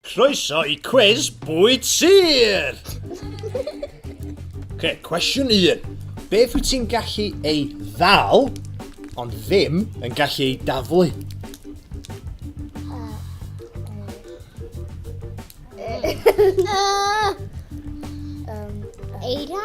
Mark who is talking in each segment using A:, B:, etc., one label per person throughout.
A: Croeso i cwis bwyd sir! okay, cwestiwn 1. Beth wyt ti'n gallu ei ddal, ond ddim yn gallu ei daflu? Eira?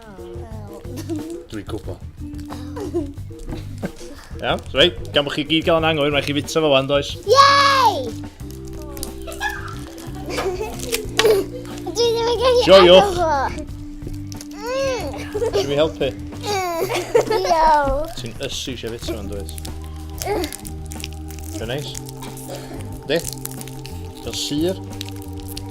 A: Dwi'n gwybod. Iawn, so rei, gan bod chi gyd gael yn anghywir, mae chi fita fo wan, does? Yay! Dwi ddim yn gallu Joiwch. Ti'n mi helpu? Diolch. Ti'n ysu eisiau fita fo'n dweud? Dwi'n neis. Di? Ti'n syr?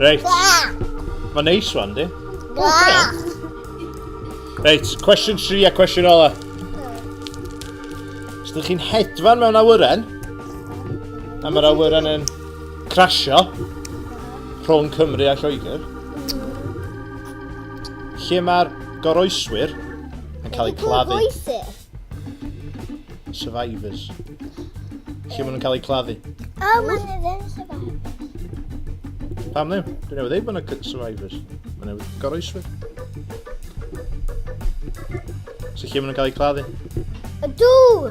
A: Reit. Mae'n neis rwan, di. Reit, cwestiwn 3 a cwestiwn ola. Os ydych chi'n hedfan mewn awyren, a mae'r awyren yn crasio rhwng Cymru a Lloegr, lle mae'r goroeswyr yn cael eu claddu. Survivors. Lle maen nhw'n cael eu claddu? O, maen nhw ddim survivors. Pam ddim? Dwi'n newydd ei bod yna survivors. Maen nhw'n goroeswyr. So lle maen nhw'n cael eu claddu? Y dŵr!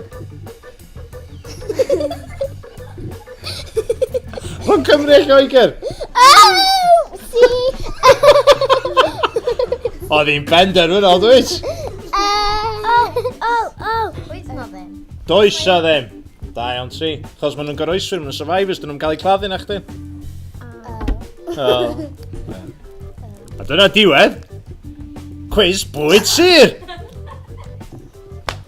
A: Mae'n cymru eich oeger! Oedd hi'n ben derfynol, dweud? Does o ddim. Da iawn ti. Chos maen nhw'n goroeswyr, maen nhw'n survivors, dyn nhw'n cael eu claddu na chdi. Oh. A dyna diwedd. Quiz bwyd sir!